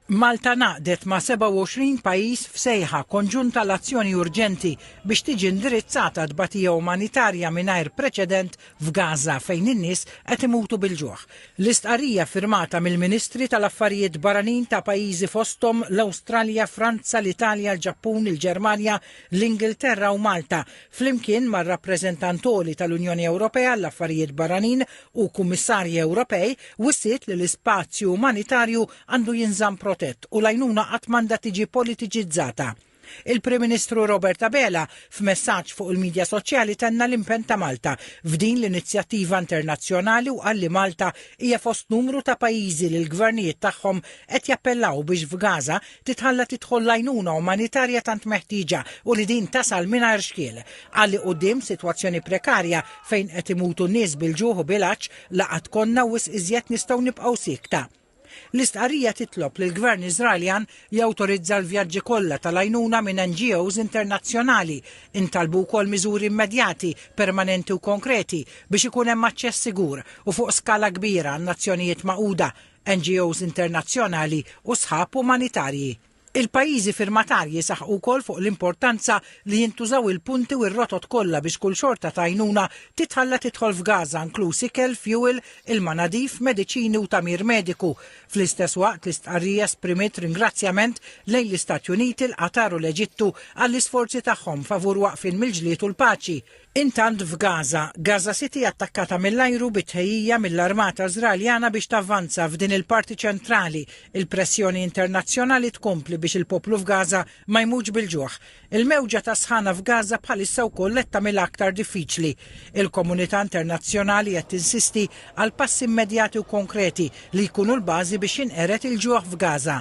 Malta ngħaqdet ma' 27 pajjiż f'sejħa konġunta għal azzjoni urġenti biex tiġi indirizzata tbatija umanitarja mingħajr preċedent f'Gaża fejn in-nies qed imutu bil-ġuħ. L-istqarrija ffirmata mill-Ministri tal-Affarijiet Barranin ta' pajjiżi fosthom l-Awstralja, Franza, l-Italja, l-Ġappun, il-Ġermanja, l-Ingilterra u Malta, flimkien mar-Rappreżentant Għoli tal-Unjoni Ewropea għall-Affarijiet Barranin, u Kummissarji Ewropej wissiet li l-ispazju umanitarju għandu jinżamm protett u l-għajnuna qatt m'għandha tiġi politiċizzata. Il-Prim Ministru Robert Abela, f'messaġġ fuq il-midja soċjali tenna l-impenn ta' Malta f'din l-inizjattiva internazzjonali u qal li Malta hija fost numru ta' pajjiżi li l-gvernijiet tagħhom qed jappellaw biex f'Gaza titħalla tidħol l-għajnuna umanitarja tant meħtieġa u li din tasal mingħajr xkiel. Qal li quddiem sitwazzjoni prekarja fejn qed imutu n-nies bil-ġuħ u bil-għatx la qatt konna wisq iżjed nistgħu nibqgħu siekta. L-istqarrija titlob lill-Gvern Iżraeljan jawtorizza l-vjaġġi kollha tal-għajnuna minn NGOs internazzjonali. Intalbu wkoll miżuri immedjati, permanenti u konkreti biex ikun hemm aċċess sigur u fuq skala kbira għan-Nazzjonijiet Magħquda, NGOs internazzjonali u sħab umanitarji. Il-pajjiżi firmatarji saħqu wkoll fuq l-importanza li jintużaw il-punti u r-rotot kollha biex kull xorta ta' għajnuna titħalla tidħol f'Gaza, inkluż ikel, fjuwil, ilma nadif, mediċini u tagħmir mediku. Fl-istess waqt, l-istqarrija esprimiet ringrazzjament lejn l-Istati Uniti, il-Qatar u l-Eġittu għall-isforzi tagħhom favur waqfien mill-ġlied u l-paċi. Intant f'Gaza, Gaza City attakkata mill-ajru bi tħejjija mill-armata Żraeljana biex tavvanza f'din il-parti ċentrali, il-pressjoni internazzjonali tkompli biex il-poplu f'Gaza ma jmutx bil-ġuħ. Il-mewġa tas-sħana f'Gaza bħalissa wkoll qed tagħmilha aktar diffiċli. Il-komunità internazzjonali qed tinsisti għal passi immedjati u konkreti li jkunu l-bażi biex jinqered il-ġuħ f'Gaza.